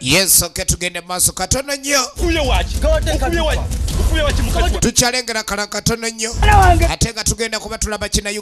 Yes, okay, tugende maaso katono nnyo tukyalengera kala katono nnyo ate nga tugenda kuba tulaba kinayo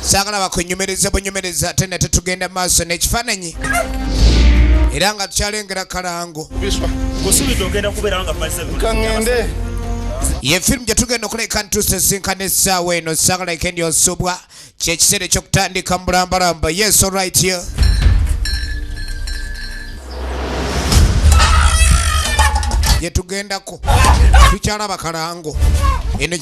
saagala bakunyumirize bunyumirize ate ne tetugenda mu maaso n'ekifaananyi era nga tukyalengera kalango ye firimu gye tugenda okuleka ntuusa esinkana essaawa eno saagala ekendi osubwa kyekiseera ekyokutandika mu bulambalamba yes olright here yetugenda tukyala bakalango eno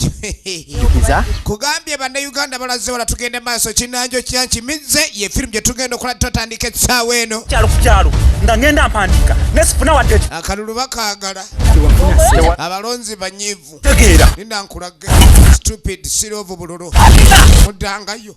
kugambye bannayuganda balaze wala tugende maaso kinanjo kyankimizze ye firimu gyetugenda okola tutandika ekisaawa eno kyalo ku kyalo nga ngenda mpandika nesifuna wadde akalulu bakagala abalonzi banyivu tegeera ninankulage stupid sirovu bululu mudangayo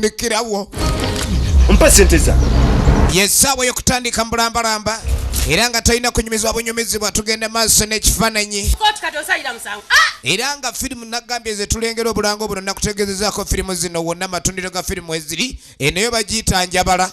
nikirawo mpa sente za yesaawa yokutandika mbulambalamba era nga tolina kunyumizibwa bunyumizibwa tugenda maaso n'ekifaananyi ah! era nga firimu nagambye ze tulengera obulango buno nakutegeezezaako firimu zino wonna amatundiro ga firimu eziri enoyo bagiyita njabala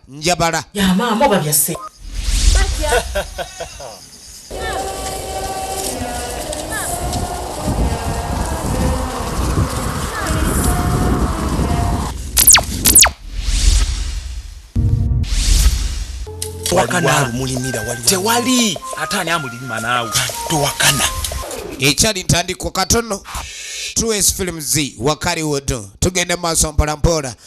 njabala ya maama oba bya se tewali ate ani amulima naawe towakana ekyali ntandikwa katono 2s films wakaliwodo tugende maaso mpolampola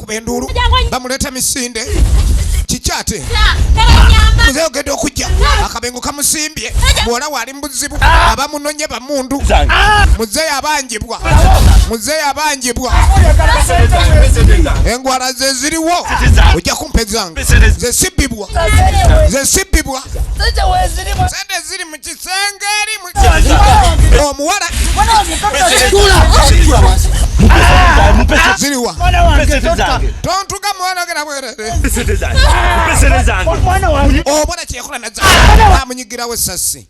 bakuba enduulu bamuleeta misinde kiki ate muze ogenda okujja akabengo kamusimbye muwala waali mubuzibu abamunonye bamundu muze yabanjibwa muze yabanjibwa engwala zeziriwo ojja kumpa ezange zesibibwa zesibibwa sente ziri mu kisenge omuwala ziriwa tontuga mwana ogera bwerere obona kyekola nazamunyigirawo esasi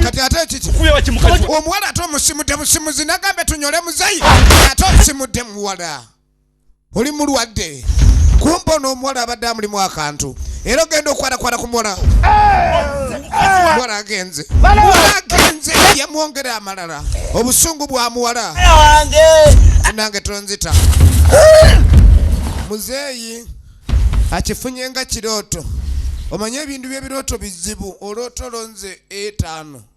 kati ate kiki omuwala ate omusimudde musimuzi nagambye tunyole muzeyi ate osimudde muwala oli mulwadde kumba ono omuwala abadde amulimu akantu era ogenda okwalakwala ku muwala muwala agenze muwala agenze yamwongera amalala obusungu bwa muwala nange tonzita muzeeyi akifunye nga kirooto omanye ebintu byebirooto bizibu oloota olonze etaano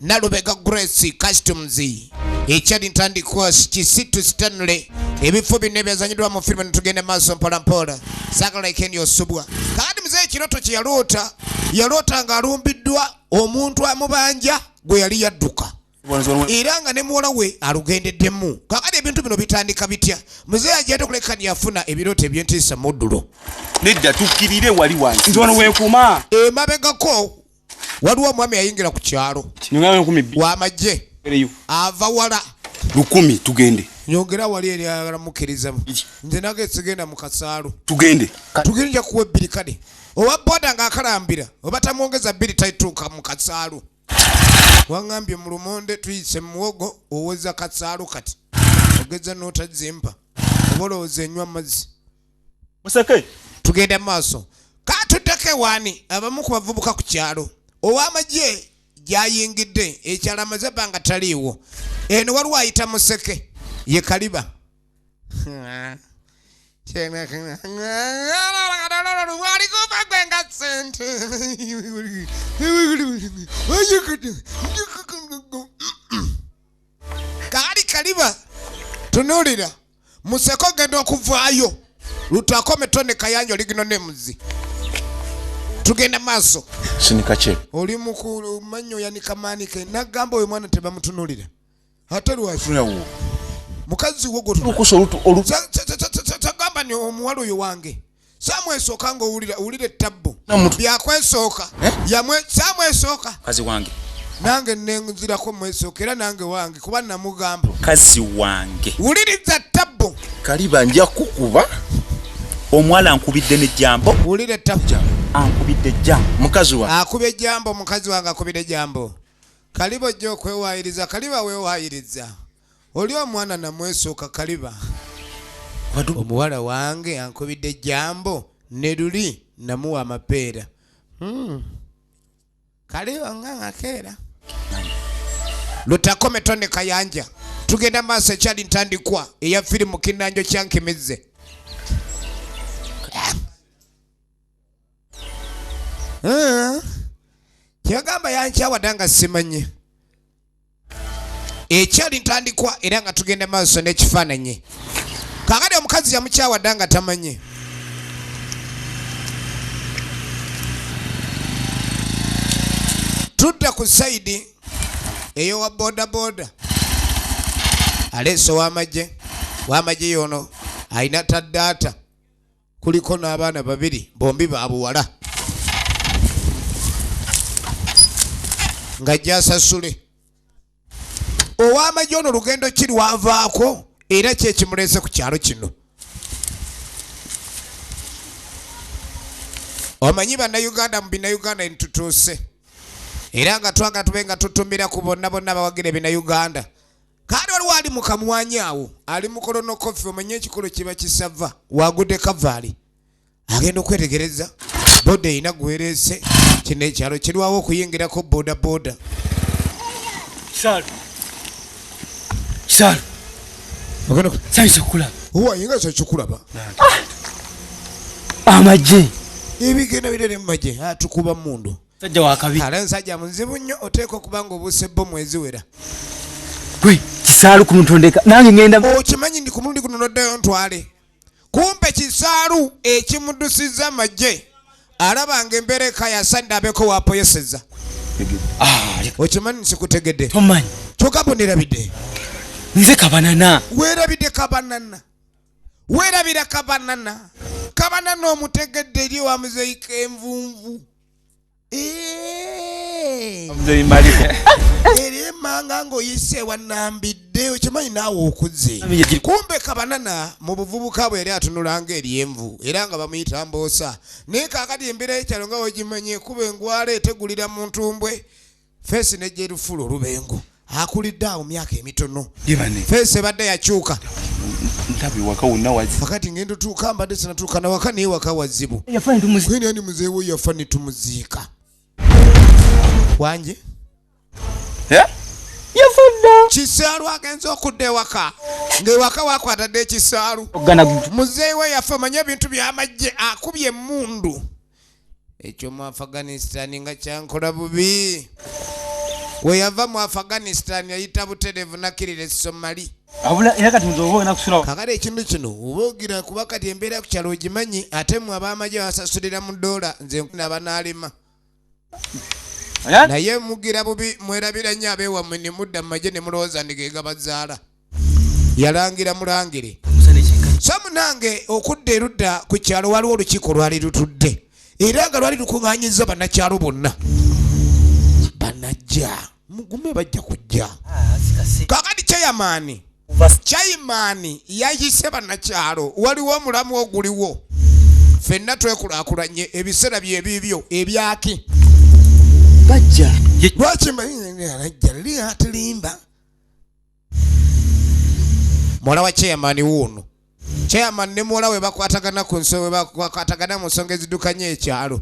nalubega grace customs ekyali ntandikwa kisitu stanley ebifo bino ebyazanyidwa mu firimu netugenda maaso mpolampola sagala ekeni osubwa kandi muze ekiroto kyeyaloota yaloota nga alumbiddwa omuntu amubanja gwe yali yadduka era nga ne muwala we alugendeddemu kakati ebintu bino bitandika bitya muzeeyi ajjate kulekani yafuna ebirooto ebyentiisa muddulo nedda tukkirire wali wansi nti wano wekuuma emabegako waliwo omwami yayingira ku kyalo wamagye ava wala lukumi tugende nyongera wali eri ayagala mukkirizamu nze nage sigenda mu kasaalu tugende tugende nja kuwa ebbiri kale owa boda ng'akalambira oba tamwongeza bbiri taituuka mu kasaalu waŋambye mu lumonde tuyise muwogo owoza kasaalu kati ogeza n'otazimpa oba olowooza enywa amazzi museke tugenda mu maaso katuddeko ewaani abamu ku bavubuka ku kyalo ow'amagye gy'ayingidde ekyalo amaze ebbanga taliiwo eno waliwo ayita museke ye kaliba kaali kaliba tunuulira museko genda okuvaayo lutwakome tone kayanja oligino nemuzi tugenda maaso sinikakye oli mukulu manyo yanika maanike nagamba oyo mwana tebamutunulira ate lwaki mukazi wo gotagamba ni omuwala oyo wange saamu esooka ng'owulira owulira ettabbu byakwesooka eh? saamu esooka kazi wange nange nenzirako mwesooka era nange wange kuba namugamba kazi wange wuliriza ttabbu kaliba nja kukuba omuwala ankubidde nejambo wulira ettabbu ankubidde jambo mukazi wange akuba ejambo mukazi wange akubira ejambo kaliba ojja okwewayiriza kaliba wewayiriza oli omwana namwesooka kaliba omuwala wange ankubidde ejambo ne luli namuwa amapeera hmm. kaliba nga ngakeera lutakome tone kayanja tugenda maaso ekyali ntandikwa eya firimu kinanjo kyankimizze kyagamba yankyawadanga simanye ekyali ntandikwa era nga tugenda maaso n'ekifaananyi kakati omukazi yamukyawa dda nga tamanyi tudda ku saidi eyowa bodaboda aleese wamagye wamagye yono alina taddaata kuliko n'abaana babiri bombi babuwala nga gyasasule ow'amagye ono lugendo ki lwavaako era kyekimuleese ku kyalo kino omanyi bannayuganda mu binayuganda entutuuse era nga twagala tube nga tutumira ku bonna bonna abawagira ebinayuganda Kaali waliwo ali mu kamwanyi awo ali mu kolonokofi omanye ekikolo kiba kisava wagude kavaali agenda okwetegereza boda erina gwereese kino ekyalo kirwawo okuyingirako boda boda wayinga kyekikulaba ah! amagye ebigenda birere mu magye atukuba mundu Sajja wa kabi. Ala nsajja muzibu nnyo oteeka okuba nga obuuse bo mwezi wera. Gwe kisaalu ku muntu ndeka nange ngenda. Okimanyi ndi ku mulundi guno noddayo ntwale. Kumpe kisaalu ekimudusizza amagye alaba nga embeera eka yasadde abeeko waapoyeseza. Ah, Okimanyi nsikutegedde. Tomanyi. Kyoka bo nerabidde. Nze kabanana. Werabidde kabanana. Werabira kabanana. Kabanana omutegedde eri wa muzeyi kenvunvu. eryemanga ngaoyise wanambidde okimanyi naawe okuze kumbe kabanana mu buvubuka bwe yali atunulanga eryenvu era nga bamuyita mboosa naye kakati embeera yekyalo nga wegimanyi ekuba engwala etegulira muntu mbwe Feesi n'ejja erufuula olubengo akulidde awo myaka emitono feesi ebadde yakyuka wakati ngenda otuuka mbadde sinatuuka nawaka naye waka wazibu ani muzeewo yafa netumuziika wanje eh? yafudda kisaalu agenze okudda ewaka ng'ewaka wakwatadde ekisaalu muzeewo yafa manye ebintu byamajje akubye emundu ekyo mu afghanistan nga kyankola bubi weyava mu afghanistan yayita buterevu nakirira esomali kakale ekintu kino obaogira kuba kati embeera ku kyalo ogimanyi ate mu abamaje basasulira mu doola nze nkuna banaalema naye mugira bubi mwerabira nnyo abeewamwe ne mudda mu maje ne mulowooza ndigeegabazaala yalangira mulangire so munange okudda erudda ku kyalo waliwo olukiiko lwali lutudde era nga lwali lukuŋanyiza bannakyalo bonna banajja mugume bajja kujja kakati kyeyamaani kyaimaani yayise bannakyalo waliwo omulamu oguliwo fenna twekulakulanye ebiseera byebiibyo ebyaki bajja lwaki mbalinajja liyatilimba muwala wa chairman wuuno chairman ne muwala we bakwatagana ku nsonga we bakwatagana mu nsonga ezidukanya ekyalo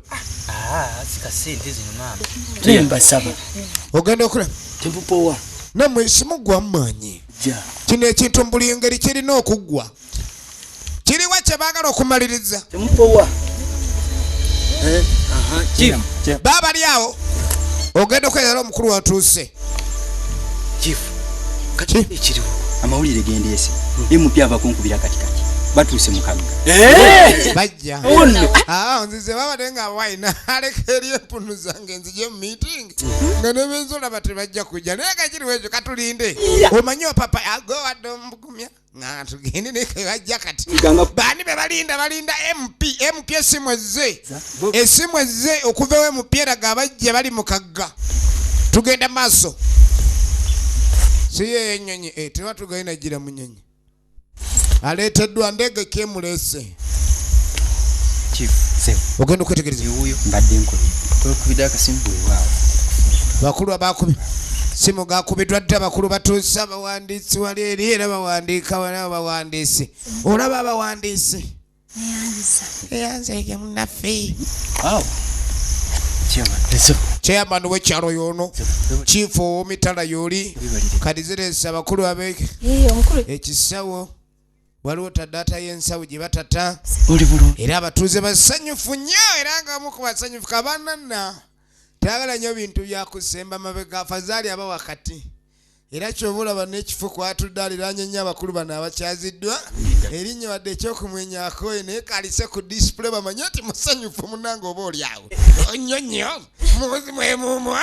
mbasaba ogenda okula tempupowa namwe simugwa mumaanyi kino ekintu mu buli ngeri kirina okuggwa kiriwa kyebagala okumaliriza eh, babali awo ogenda okweyala omukulu watuuse amawulire gendeese emupya abakunkubira katikati batuuse mukagga eh! bajja ah, nzize babadde nga wine aleka eri empunu zange nzije mu meeting nga nebenzolaba tebajja kujja naye kakiriwo ekyo katulinde omanyi opapa agowadde omugumya nga tugende nekebajja kati baani bebalinda balinda mp mp esimu ezze esimu ezze okuvawo mp eraga abajja bali mukagga tugenda maaso siyeyo enyonyi eh, teba tugenda gira munyonyi aleeteddwa ndege kemulese ogenda okwetegereza bakulu abakubi simu gakubiddwa dda bakulu batuuse abawandiisi wali eri era bawandiika wala bawandiisi olaba abawandiisi eyanzege munaffe chairman wekyalo yono chief owomitala yoli kati ziresa abakulu abe ekisawo waliwo tadata y'ensawo gye batata era abatuuze basanyufu nnyo era nga omu ku basanyufu kabanana tayagala nnyo bintu byakusemba mabega afazaali aba wakati era kyoba olaba n'ekifo kwatudde aliraanye nnyo abakulu bano abakyaziddwa erinnya wadde ekyokumwenyako naye kalise ku disipule bamanye nti musanyufu munange oba olyawo nnyo nnyo muzi mwemumu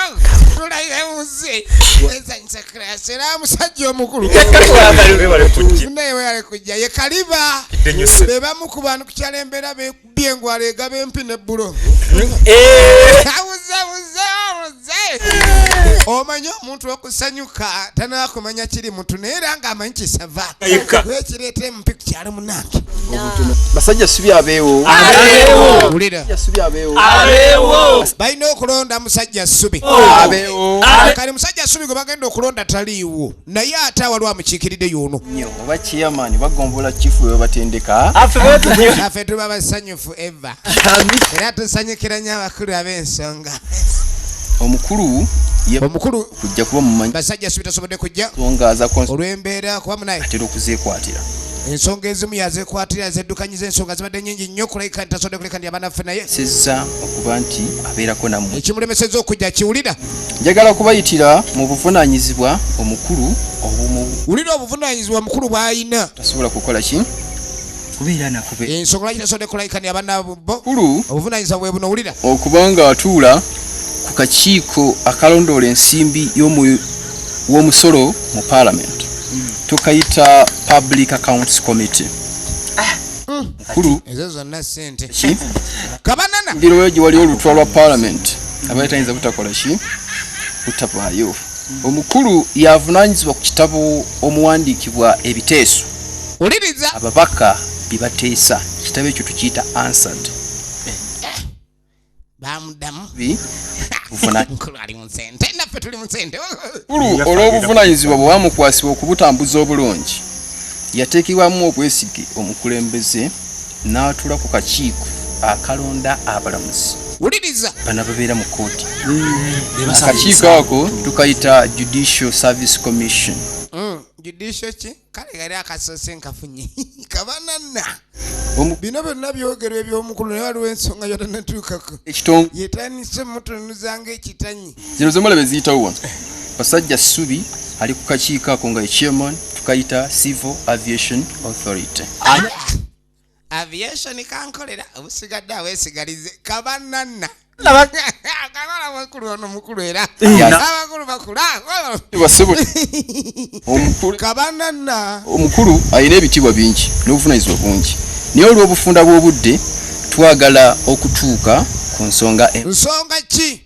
tulaire muzi wezanyisa kirasi era musajja omukulu naye weyale kujja ye kaliba bebamu ku bantu kukyala embeera byengwala egaba empi ne bulo eh. abuze buze obuze omanye omuntu okusanyuka tanaba kumanya kiri muntu naye era nga amanyi kisava ekireeta emu piku kyalo munange basajja subi abeewo balina okulonda musajja subi kale musajja subi gwe bagenda okulonda taliiwo naye ate awaliwo amukiikiridde yono oba kiyamani bagombola kifu webatendeka afe tuba basanyufu ever era tusanyukira nnyo abakulu ab'ensonga omukulu omukulu kujja kuba mumanyi basajja sibitasobodde kujja olw'embeera kuba munaye atera okuzeekwatira ensonga ezimu yazekwatira zeddukanyiza ensonga zibadde nyingi nnyo kulabika nti tasobodde kuleka ndi abanaffe naye sezza okuba nti abeerako namwe ekimulemeseza okujja kiwulira njagala okubayitira mu buvunaanyizibwa omukulu obumu wulira obuvunaanyizibwa omukulu bw'alina tasobola kukola ki kubeera nako ensonga lwaki tasodde kulayikani abana bo kulu obuvunanyizibwa bwe buno wulira okubanga atuula ku kakiiko akalondoola ensimbi w'omusolo mu parliament hmm. tukayita public accounts committee ah. hmm. kulu ezo zonna sente kabanana ndiro gyewali olutwa lwa parliament abayitayinza butakola ki butavaayo Omukulu y'avunaanyizibwa ku kitabo omuwandiikibwa ebiteeso ababaka bye bateesa. Ekitabo ekyo tukiyita Answered. Omukulu olw'obuvunaanyizibwa bwe bwamukwasibwa okubutambuza obulungi, yateekebwamu obwesige omukulembeze. n'atuula ku kakiiko akalonda abalamuzi wuliriza bano ababeera mu kkooti mm. akakiiko ako tukayita judicial service commission mm. judicial ki kale gari akasoose nkafunye kabananna bino byonna byogerwa eby'omukulu naye waliwo ensonga yona natuukako yetandise mutununuza ngaekitanyi zino zomala beziyitawo wano basajja subi ali ku kakiiko ako nga echairman tukayita civil aviation authority aviation kankolera obusigadde awesigalize kabananna omukulu alina ebitiibwa bingi n'obuvunanyizibwa bungi naye olw'obufunda bw'obudde twagala okutuuka ku nsonga e- nsonga ki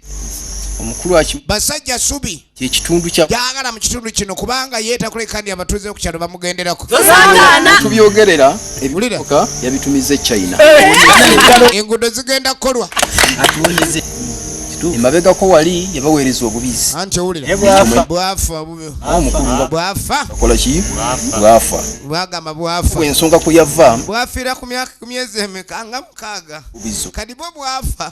omukulu aki basajja subi kyekitundu kya gyagala mu kitundu kino kubanga yeetakulekandi abatuuze ku kyalo bamugenderako tubyogerera ebiuka yabitumiza echina eh. enguudo zigenda kukolwa emabegako wali yabaweereza obubizi anti owulirbwafa bwafakolaki bwafa bwagamba bwafa ensonga kuyava bwafira ku myaka ku myezi emeka nga mukaaga kadibo bwafa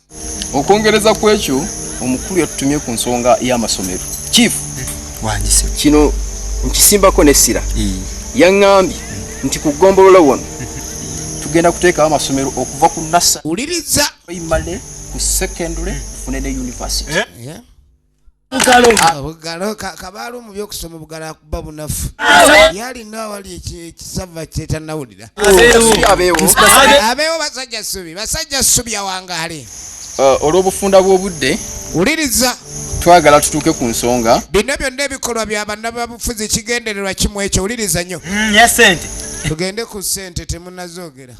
okwongereza ku ekyo omukulu yatutumye ku nsonga y'amasomero chief wandise kino nkisimbako n'essira yaŋŋambye nti ku ggombolola wano tugenda kuteekawo amasomero okuva ku nasa uliriza primary ku secondary tufune ne university eh? bugalo ah, kabaala omu byokusoma obugalo akuba bunafu yalina awali ekisava kyetanawulira abeewo basajja subi basajja subi awangaale ah, olw'obufunda bw'obudde wuliriza twagala tutuuke ku nsonga bino byonna ebikolwa bya bannababufuzi kigendererwa kimu ekyo wuliriza nnyo mm, tugende ku ssente temunazoogera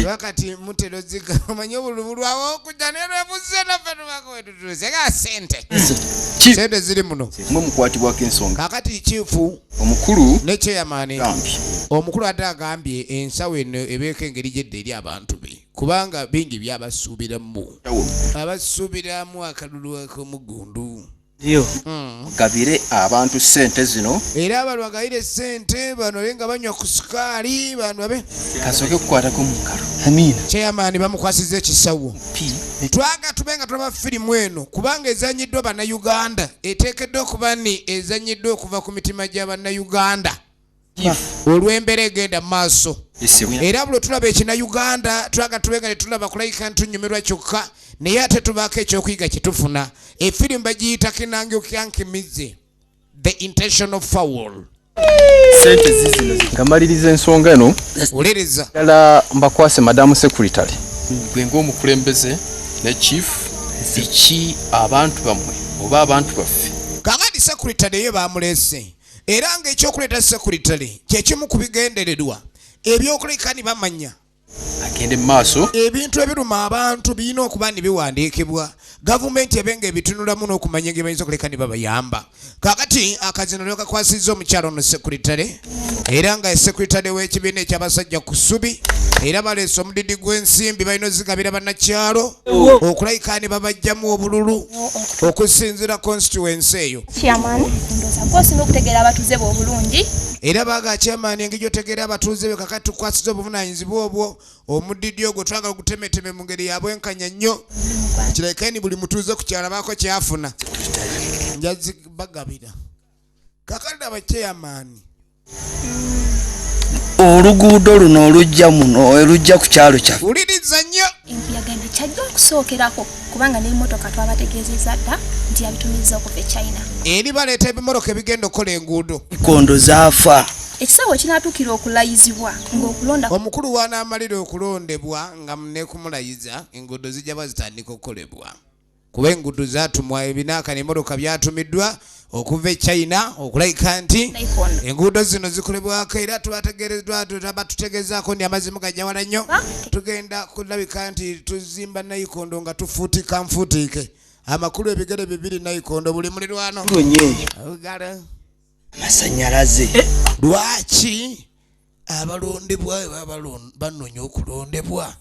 wakati mutera oziga omanye obulubu lwawe okuja nerwebuze naffe tubako wetutuuse nga sente sente ziri muno mwe mukwatibwako ensonga kakati kifu omukulu nekyeyamaani omukulu ate agambye ensawo eno ebeeko engeri gyedda eri abantu be kubanga bingi byabasuubiramu abasuubiramu akalulu akomugundu yo hmm. mugabire abantu sente zino era abantu bagabire sente bano be nga banywa ku sukaali bantu babe kasooke kukwatako mungalo amiina chairman bamukwasiza ekisawo twaga tube nga tulaba firimu eno kubanga ezanyiddwa bannayuganda eteekeddwa okuba ni ezanyiddwa okuva ku mitima gya bannayuganda olw'embeera egenda mu maaso era buli tulaba ekina uganda twaga tube nga tetulaba kulayika ntunyumirwa kyokka naye ate tubaako ekyokuyiga kyetufuna efirimu bagiyita kinangeokyankimize the intentional foul sente zizino nga maliriza ensonga eno wuliriza dala mbakwase madamu secretary gwe ngaomukulembeze ne chief eki abantu bamwe oba abantu baffe kakati secretary eyo bamulese era nga ekyokuleeta sekuritale kyekimu ku bigendererwa ebyokuleka ni bamanya agende mu maaso ebintu ebiruma abantu birina okuba ni biwandiikibwa gavumenti ebe nga ebitunulamu n'okumanya engeri bayinza okuleka ne babayamba kakati akazino lyo kakwasizza omukyalo ono sekuritale era nga sekuritale w'ekibiina eky'abasajja ku subi era baleese omudidi gw'ensimbi balina ozigabira bannakyalo okulayika ne babajjamu obululu okusinziira konsituwensi eyo Chairman, ndoza kosi nokutegera abatuze bo bulungi. Era baga chairman engeri otegera abatuze be kakati tukwasiza obuvunanyizibwa obwo omudidi ogwo twagala gutemeteme mu ngeri yabwe nkanya nnyo. Kirekeni buli mutuze ku kyala bako kyafuna. Njazi bagabira. Kakati aba chairman oluguudo luno olujja muno olujja ku kyalo kyaffe wuliriza nnyo enkuyaga eno kyajja okusookerako kubanga n'emmotoka twabategeezezza dda nti yabitumiza okuva e china eri baleeta ebimmotoka ebigenda okukola enguudo ikondo zaafa ekisawo kinatuukira okulayizibwa ngaokulonda omukulu wanaamalira okulondebwa nga nekumulayizza enguudo zijja bazitandika okukolebwa kuba enguudo zaatumwa ebinaaka n'emmotoka byatumiddwa okuva e china okulabika nti enguudo zino zikolebwako era tubategereddwa batutegezaako nti amazzi mugajawala nnyo tugenda kulabika nti tuzimba nayikondo nga tufuutika nfuutiike amakulu ebigere bibiri nayikondo buli mulirwano masanyalaze eh, eh. lwaki abalondebwa banonya okulondebwa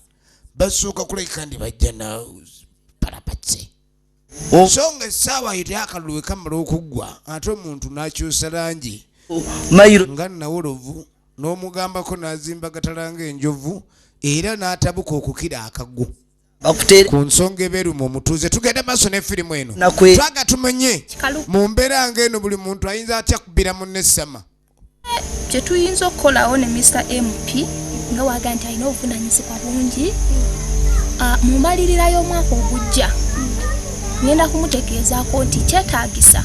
basooka kulabika ndi bajja na palapatse oh. so nga essaawa yo tyakalulu wekamala okuggwa ate omuntu n'akyusa langi nga nawolovu n'omugambako n'azimba gatalanga enjovu era n'atabuka okukira akagu ku nsonga ebeeruma omutuuze tugenda maaso ne firimu eno twaga tumanye mu mbeera nga eno buli muntu ayinza atya kubira munne essama kyetuyinza okukolawo ne Mr MP nga waga nti alina obuvunanyizibwa bungi ah, mu mbalirira y'omwaka ogujja ngenda kumutegeezaako nti kyetaagisa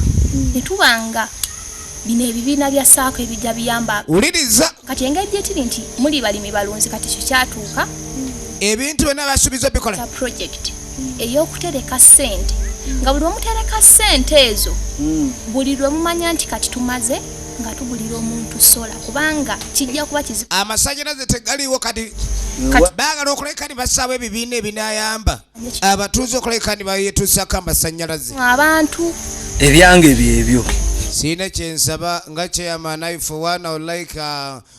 ne tuba nga bino ebibiina bya saako ebijja biyamba wuliriza kati engeri gyetiri nti muli balimi balunzi kati kyo kyatuuka ebintu byonna basuubiza obikola eyokutereka sente nga buli lwemutereka sente ezo hmm. buli lwemumanya nti kati tumaze nga tugulira omuntu sola kubanga kijja kuba kizibu amasanyalaze tegaliwo kati bagala okuleka ni basaawo ebibiina ebinayamba abatuuze okuleka ni bayetuusako amasanyalaze abantu ebyange byebyo siina kyensaba nga kyeyamanaifewana olaika uh,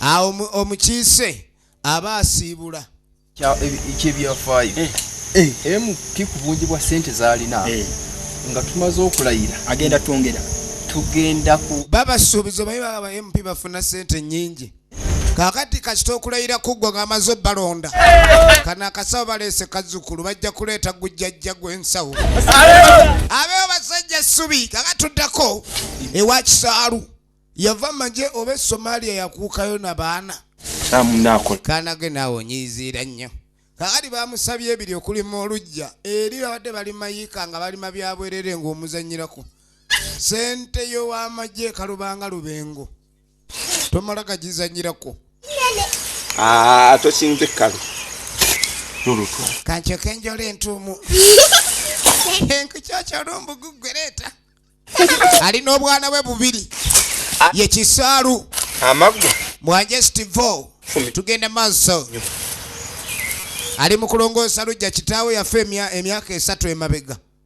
awo omukiise aba asiibula ekyebyafaayo eh. eh. emu kikubungi bwa sente zalina eh. nga tumaze okulayira agenda twongera tugenda ku babasuubiza obaye baba mp bafuna sente nyingi kakati kasita okulayira kuggwa ng'amaze obalonda kana akasawo baleese kazzukulu bajja kuleeta gujjajja gw'ensawo abeewo basajja ssubi kakatuddako ewa kisaalu yava maje oba esomaliya yakuukayo na baana kanage naawe onyiiziira nnyo kakati bamusabye ebiri okulima olujja eri babadde balimayiika nga balima byabwerere ng'omuzanyirako sente yow'amagye kalubanga lubengo tomala gagizanyirako ah, tokinze kkalu nolutwa kancoka enjola entuumu enkukyakyalumbugugwereeta alina obwana bwe bubiri ah. ye kisaalu amaggwa mwanje stivo tugenda maaso ali mu kulongoosa lujja kitaawe yafe emyaka esatu emabega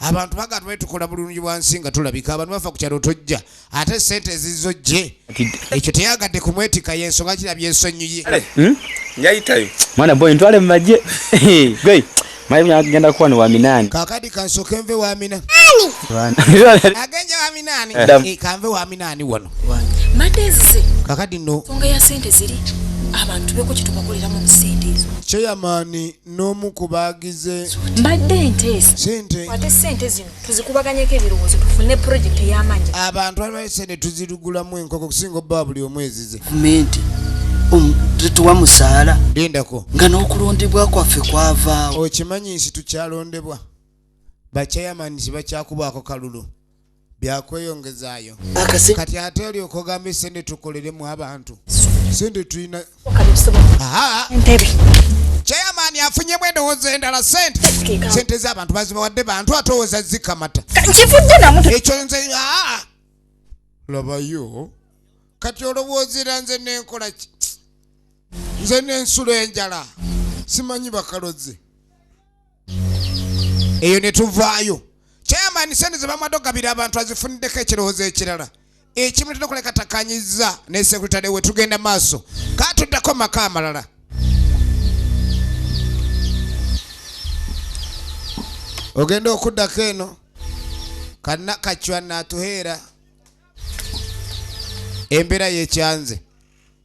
abantu baga tubaye tukola bulungi bwansi nga tulabika abantu bafa ku kyalo tojja ate sente ezizo gye ekyo teyagadde ku mwetika y'ensonga kirabye ensonyiye eh, hmm? yayitayo mwana boy ntwale mu magye gwe mayi munyagenda kuwa ni wa minani kakadi kansoke nve wa mina agenja wa minani eh. eh, kanve wa minani wano madezi kakadi no songa ya sente ziri abantu beko kitubakolera mu sente ezo cheyamani n'omu ku baagize mbadde enteesa sente ate sente zino tuzikubaganyeko ebirowoozo tufune pulojekiti ey'amaanyi abantu alibayo sente tuzirugulamu enkoko okusinga obbawa buli omu ezize gavumenti tetuwa musaala lindako nga n'okulondebwa kwaffe kwavaawo okimanyi nsi tukyalondebwa bakyayamani sibakyakubwako kalulu byakweyongezaayo kati ate olyoka ogamba esente tukoleremu abantu sente tulina chairman afunyemu endowooza endala sente sente z'abantu bazibawadde bantu atowooza zikamata ekyo nze labayo kati olowoozera nze nenkola ki nze nensulo enjala simanyi bakalozi eyo ne tuvaayo chairman sente ze bamwadde okugabira abantu azifuniddeko ekirowoozo ekirala ekimu tulina okulekatakanyizza ne sekuritale we tugenda maaso ka tuddako maka amalala ogenda okuddako eno kana kacwa natuheera embeera yekyanze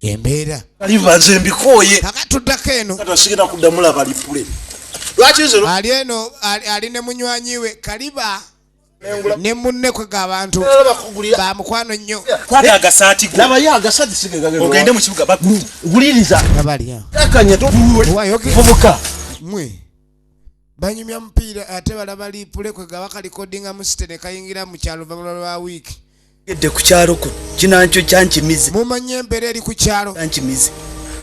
embeera aliva nze mbikooye akatuddako eno tasigenda kuddamu laba lipule lwaki nze ali eno ali ne munywanyi we kaliba ne munne kwe ga bantu ba mukwano nnyo kwali agasaati go labayo agasaati sige gagenda ogende mu kibuga baguliriza labayo akanya tuvuwe tuvuka mwe Banyumya mupiira ate balaba liipule kwe gaba kalikodinga mu site ne kayingira mu kyalo luvannyuma lwa wiiki. Edde ku kyalo kuno kinakyo kyankimize. Mumanyi embeera eri ku kyalo. Kyankimize.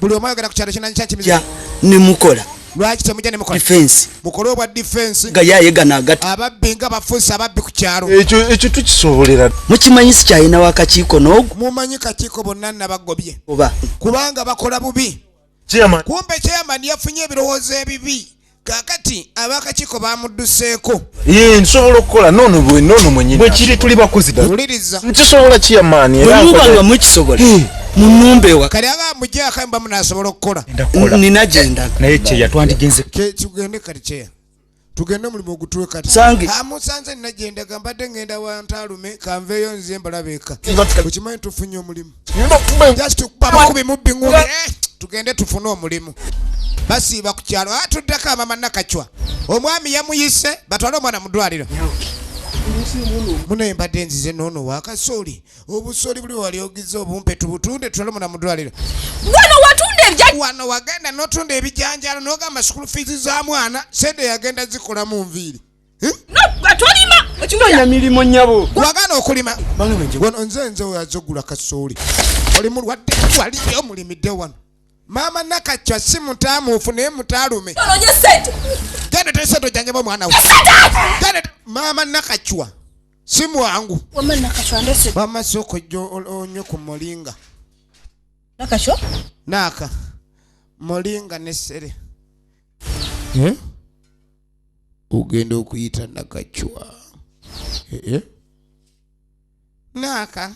Buli omu ayogera ku kyalo kinanyi kyankimize. Kya ne mukola. Lwaki temujja ne mukola? Defense. Mukole obwa defense. Nga yaye gana agati. Ababbi nga bafuuse ababbi ku kyalo. Ekyo ekyo tukisobolera. Mukimanyi si kyayina wakakiiko n'ogu. Mumanyi kakiiko bonna nabagobye. Oba. Kubanga bakola bubi. kumbe chairman yafunye ebirowoozo ebibi kakati abakakiiko bamudduseeko ye nsobola okukola nono bwe nono mwenyini bwekiri tuli bakozi wuliriza nkisobola chairman era bwemuba nga mukisobola munumba ewa kale aba amujako mba munasobola okukola nina gyendaga naye kyeya twandigenze kyetugende kati kyeya tugende mulimu ogutule kati amusanze nina gyendaga mbadde ngenda wantaalume kanveeyo nze mbalabeka okimanyi tufunye omulimu just okubabakubi mubbi ngumi eh, tugende tufune omulimu basiiba ku kyalo atuddeko ah, amama nakacwa omwami yamuyise batwale omwana mu ddwaliro munaye mbadde nzize noono wakasooli obusooli buli wali ogiza obumpe tubutunde tutwale omwana mudwaliro wano watunda ebija wano wagenda notunda ebijanjalo nogamba school fees za mwana sente yagenda zikola mu nviiri tolima ekinonya mirimu nyabo wagana okulima wano nze nze oyazogula kasooli oli mulwadde waliyo omulimidde wano maama nakacwa si mutamuufu naye mutalume genda tesente ojanyaba omwana we maama nakacwa si mwangu wamma sooka ojja onywe ku molinga naaka molinga nesere eh? ogenda okuyita nakacwa eh, eh? naaka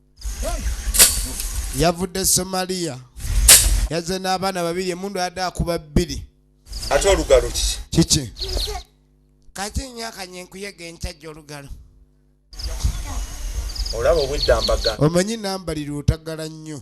yavudde somaliya yazze n'abaana babiri emundu yadde akuba bbiri ate olugalo kiki kiki kati nyo akanye nkuyega enkyajja olugalo olaba obweddambaga omanyi nambalirwa otagala nnyo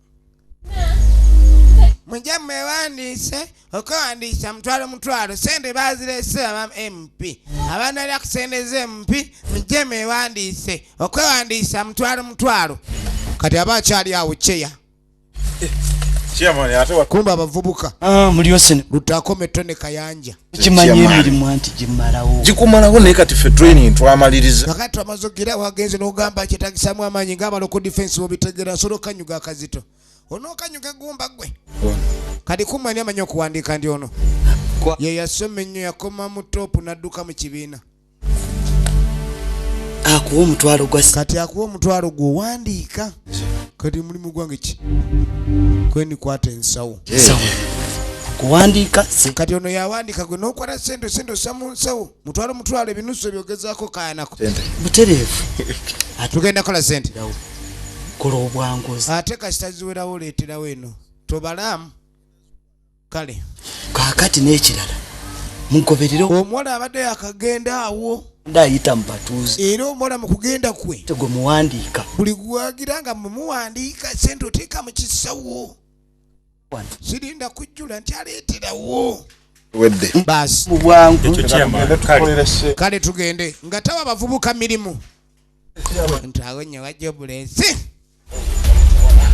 mujja mwewandiise okwewandiisa mutwalo mutwalo sente bazireese aba mp abanalira ku sente ze mpi mujje mwewandiise okwewandiisa mutwalo mutwalo kati aba akyali awo ceya kumba abavubuka ah, lutako metone kayanja kimanyi emirimu anti gimalawo gikumalawo naye kati fe training twamaliriza kakati twamaze okugirawo agenze n'ogamba kyetagisamu amaanyi ng'abala oku difensi bobitegera asobola okukanyuga akazito onookanyuga egumba gwe kati kumwani amanyi okuwandiika ndi ono ye yasoma ennyo yakoma mu toopu n'adduka mu kibiina akuwa omutwalo gwa kati akuwa omutwalo gwo wandiika kati mulimu gwange ki kweni kwata ensawo kuwandiika kati ono yawandiika gwe nokwata sente sente osa mu nsawo mutwalo mutwalo ebinusu ebyogezako kayanako butereevu tugenda kola sente kola obwanguzi ate kasita ziwerawo oleeterawo eno tobalaamu kale kakati n'ekirala mugoberere omuwala abadde yakagenda awo ndayita mubatuuzi era omuwala mu kugenda kwe tegwe muwandiika buli gwagira nga mumuwandiika sente oteeka mu kisawo sirinda kujjula nti aleeterawo wedde baasi mubwangu kale tugende nga tawa bavubuka mirimu nti awo nyo wajja obulensi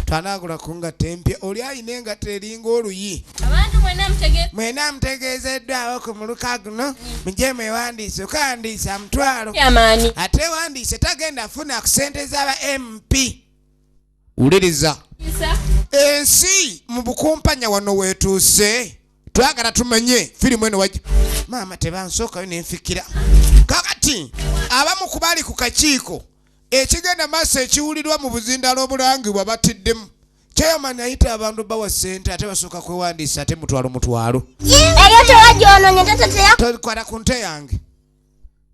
tanaagula ku ngatta empya oli alina engatta eringa oluyi mwena mutegeezeddwawo ku muluka guno mugye mwewandiise okawandiisa mutwalo ate wandiise tagenda funa ku sente z'aba mp wuliriza ensi mu bukumpanya wano weetuuse twagala tumanye firimu eno wajja maama tebansookayo nenfikira kakati abamu kubali ku kakiiko Ekigenda maaso ekiwulirwa mu buzindaalo obulangibwa battiddemu. Chairman ayita abantu bawa ssente ate basooka kwewandiisa ate mutwalo mutwalo. Eyo tewagyononye tatatera. Tokwata ku nte yange.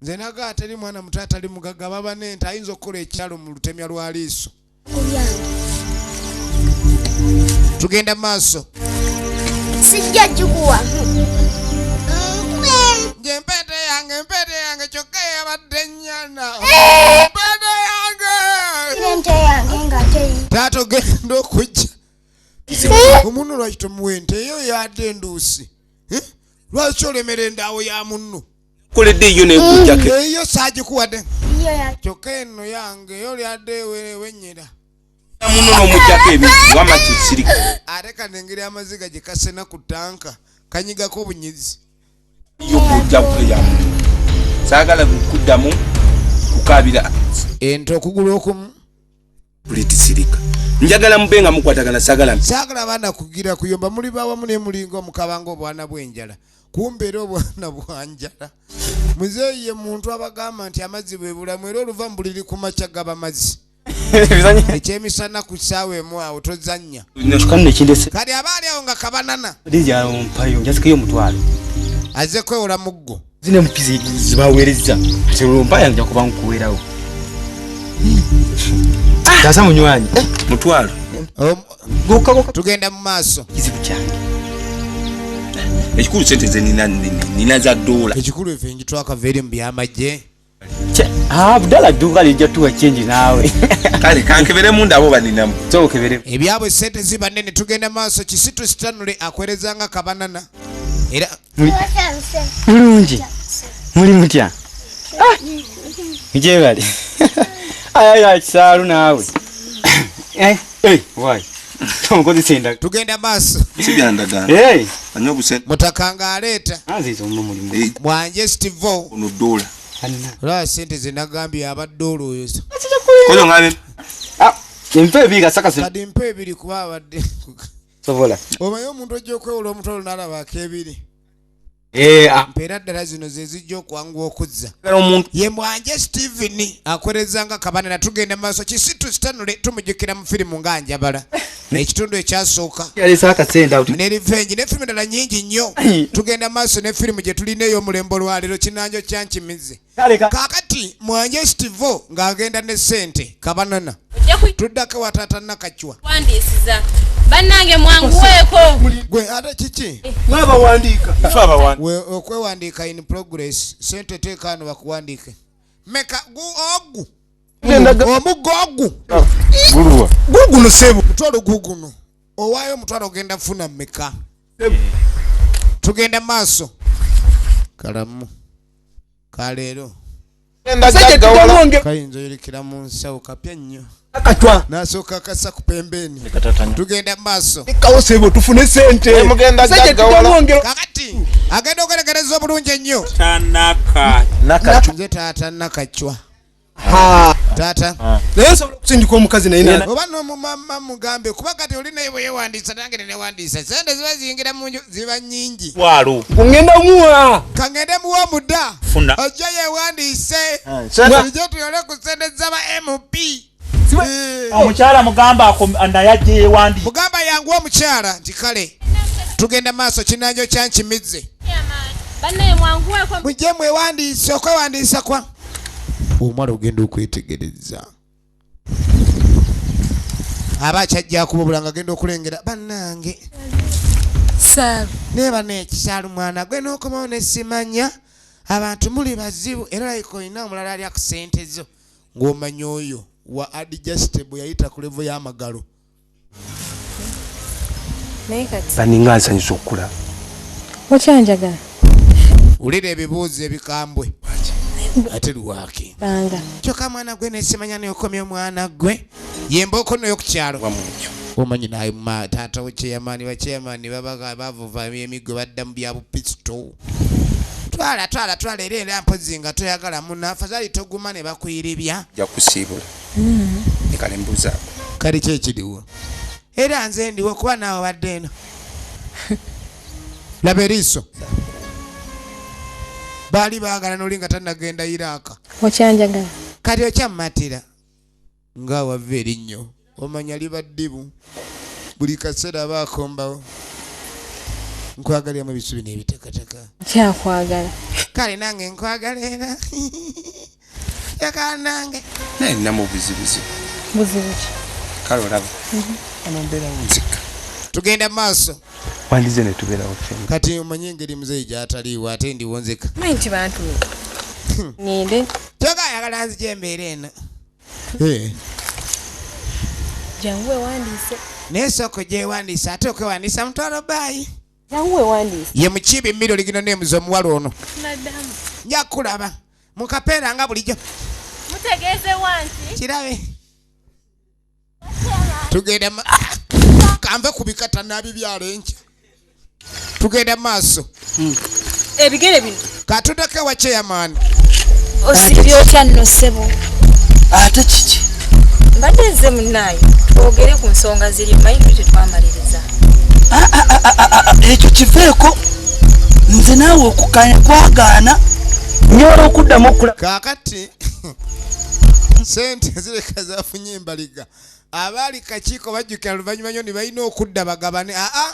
Nze naga atali mwana muto atali mugagga baba n'ente ayinza okukola ekyalo mu lutemya lwa liiso. Tugenda maaso. Sijja gikuwa. Nje mpete yange mpete yange kyokka yabadde nyana bana yange nente yange nga teyi taata ogenda okujja omunno lwaki tomuwa ente eyo yadde enduusi eh? lwaki olemera endaawo ya munno koledde yo nekujjake mm, eyo sagikuwadde kyokka eno yange eyo lyadde wenyera muno nomujjako ebi wama kisirika ate kanengeri amaziga gyekasena ku tanka kanyigako obunyizi saagala kuddamu kukaabira ente okugulu okumu buli tisirika njagala mube nga mukwatagana sagala sagala bana kugira kuyomba muli bawamu ne mulinga omukabanga obwana bw'enjala kumbe era obwana bwanjala muzeeyi ye muntu abagamba nti amazzi bwe bulamu era oluva mu buliri ku makya gaba mazzi ekyemisana ku kisaawa emu awo tozannya kati aba ali awo nga kabanana azze kwewola muggo zino empizi zibaweerezza nti olumpaya nja kuba nkuweerawo ah! taasa munywanyi eh, mutwalo tugenda mu maaso kizibu kyange ekikulu sente ze nina za doola ekikulu efe njitwakava eri mu byamagye Ah, budala duka lija tuwa change nawe kale kankebere munda abo baninamu so kebere ebyabo sente ziba nene tugenda maso kisitu sitanule akwereza nga kabanana era mulungi muli mutya ah! nje bali aya ya kisalu nawe eh eh why omukozesa endaga tugenda maaso sibyandaga hey. anywa obusente mutaka nga aleeta anziza omu mulimu Eh. mwanje stivo ono dola anna olaba sente zenagambye abadde olwoyoza kozo ngabe ah empe ebi kasakasa kadi mpa ebiri kuba abadde sobola omanyi omuntu ojja okwewola omutwalo nalaba akebiri Eh, ah. mpeera ddala zino zezijja okwanguwa okuzza ye mwanje steven akoleza nga kabana natugenda maaso kisitu sitanule tumujukira mu firimu nga njabala ekitundu ekyasooka ne revenge ne firimu endala nyingi nnyo tugenda maaso ne firimu gye tulina ey'omulembe olwaleero kinanjo kyankimize kakati mwanje stivo ng'agenda ne sente kabanana tuddako wataata nakacwa wandisiza banange mwanguweeko gwe ate kiki mwabawandiika okwewandiika in progress sente teekaano bakuwandiike meka ogu omuggo ogu guguno sebo mutwalo guguno owaayo omutwalo ogenda funa meka tugenda maaso kalamu kaleero kayinza oyolekera mu nsawo kapya nnyo akatwa nasooka kasa ku pembeeni tugenda mu maaso ekkawo sebo tufune sente kakati agenda okulekereza obulungi ennyo nze taata nakacwa taata ah. naye nsobola okusindika omukazi naye oba nomumama mugambe kuba kati oli naye bweyewandiisa nange nenewandiisa sente ziba ziyingira munju ziba nyingi walo ngenda muwa kangende muwa omuda funa ojja yewandiise ah, ijo tuyole ku sente zaba mp eh. omukyala mugamba naye ajja yewandi mugamba yangu omukyala nti kale tugenda maaso kinanjo kyankimizze mujje mwewandiise okwewandiisa kwa omala ogenda okwetegereza aba akyajja kubabula nga agenda okulengera bannange naye bana ekisaalo mwana gwe n'okomawo nesimanya abantu muli bazibu era like olina omulala alya ku sente zo ng'omanya oyo wa adjustable yayita ku levo y'amagalo baninga nsanyusa okukula okyanjagala wulira ebibuuzo ebikambwe ate lwaki kyoka mwana gwe nesimanya neokomya omwana gwe yembooko noyo kukyalo omanyi naye taata we chairman ba chairman babaga bavuva emiggo badda mu bya bupisito twala twala twala era era mpozi nga toyagala muna afadhali toguma ne bakuyiribya jakusiibula Kale mbuza. Kale kye kidiwo. Era nze ndiwo kuba nawe obadde eno. Laba eriiso. Baali baagala noli nga tanagenda Iraq. Okyanjagala. Kati okyammatira. Nga wava erinnyo. Omanya liba ddibu. Buli kaseera aba akombawo. Nkwagaliramu ebisubi n'ebitakataka. Kyakwagala. Kale nange nkwagala era. yakanange naye namu buzibuzibu buzibuki kale olaba mhm. ono mbeerawo nzika tugenda maaso wandize netubeerawo fena kati omanyi engeri muzeeyi gyataliiwo ate ndiwo nzika manyi nti bantu hmm. ninde kyoka ayagala nzija embeera eno eh. jangu ewandiise naye sooka ojewandiisa ate okwewandiisa mutwalo baayi ye mukiibi mmiro ligino nemuza omuwala ono nja kulaba mukapeera nga bulijjo kirabe tugenda kanve ku bikata nabibyala enkya tugenda maaso hmm. ebigere bino katudeko ewa chairman osibye otya nno ssebo ate kiki mbadde nze munaayo twogere ku nsonga ziri mayindu tetwamaliriza ah, ah, ah, ekyo kiveeko nze naawe okukanya kwagaana nyola okuddamu okula kakati sente zireka zafunye embaliga abaali kakiiko bajjukira luvannyuma nyo ne balina okudda bagabane aa